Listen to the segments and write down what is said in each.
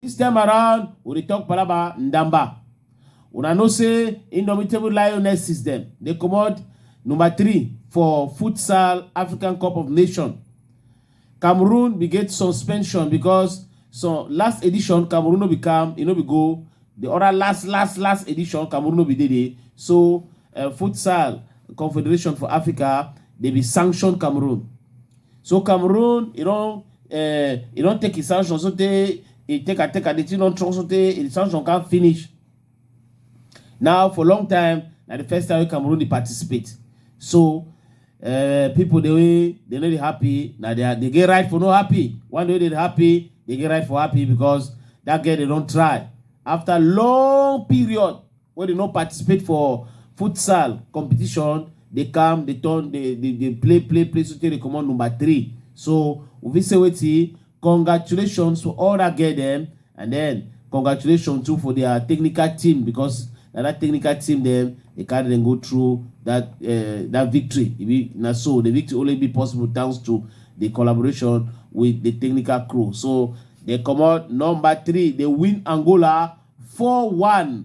This time around, we dey talk palaba Ndamba. Una know say Indomitable Lioness system dey comot number three for futsal African Cup of Nations. Cameroon bin get suspension because so last edition Cameroon no be come, e no be go The other last, last, last edition, Cameroon no be there. dey. So, uh, Futsal Confederation for Africa, they be sanctioned Cameroon. So Cameroon, you know, uh, you don't take his sanction, so they, he take a take a, the thing don't trust, so they, his sanction can't finish. Now, for long time, na the first time wey Cameroon dey participate. So, uh, people dey wey dey no dey happy na their dey get right for no happy one day wey dey happy dey get right for happy because that girl dey don try after long period wey dey no participate for futsal competition dey come dey turn dey dey dey play play play so tey dey comot number three so we fit say wetin congratulations to all that girl dem and then congratulations too for their technical team because na that technical team dem dey carry dem go through that uh, that victory e be na so the victory only be possible thanks to the collaboration with the technical crew so dem comot number three dey win angola four one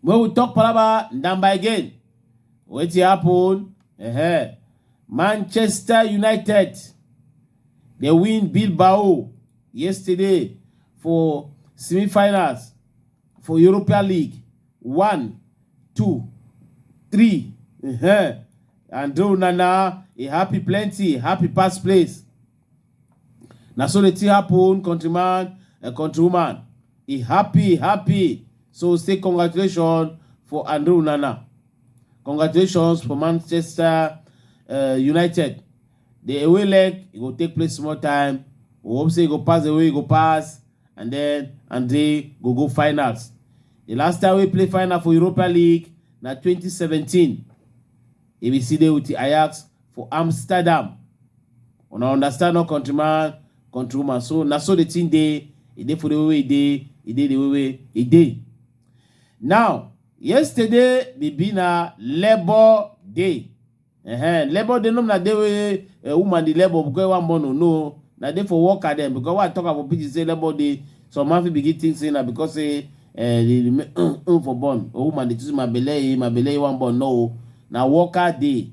When we talk palava, Ndamba again. Wetin happen? Uh-huh. Manchester United dey win Bilbao yesterday for semi-finals for Europa League. One, two, three. Uh-huh. And Onana, e happy plenty, happy pass place. na so the thing happen countryman and countrywoman e happy e happy so say congratulations for andre onana congratulations for manchester uh, united the away leg e go take place small time we hope say e go pass the way e go pass and then andre go go finals the last time we play final for europa league na 2017 e bin still dey with ajax for amsterdam una understand no country man country woman so na so the thing dey e dey for the way wey e dey e dey the way wey e dey now yesterday be be na labour day uh-huh. labour day no be na day wey uh, woman dey labour because one born o no na day for worker dem because why i talk am for pidgin say labour day some man fit begin think say na because say uh, the remain um, um, for born or woman dey choose my belle eh my belle eh one born no o na worker day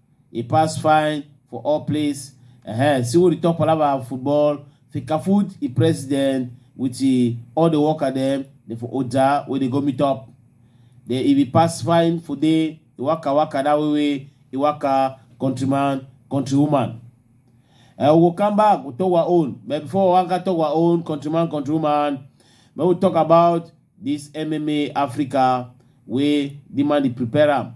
e pass fine for all place uh-huh. see what the top palava football fikafood e president with the, all the worker dem dey for oja wey dey go meet up then e be pass fine for dey e waka waka that way way e waka countryman countrywoman uh, we go come back we talk our own but before we waka talk our own countryman countrywoman make we talk about this mma africa wey the man dey prepare am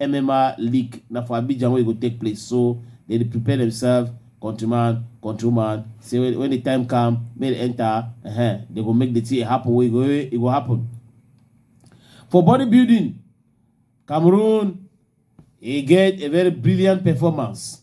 MMA league na for Abidjan wey e go take place so dem dey prepare themselves countryman countrywoman say when, when the time come make dem enter uh -huh, they go make the thing happen wey go e go happen for bodybuilding Cameroon e get a very brilliant performance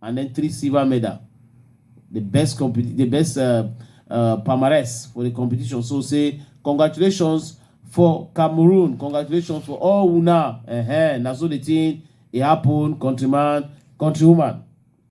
and then three silver medal the best compet the best uh, uh, palmarès for the competition so say congratulations for cameroon congratulations for all una uh -huh. na so the thing e happen countryman countrywoman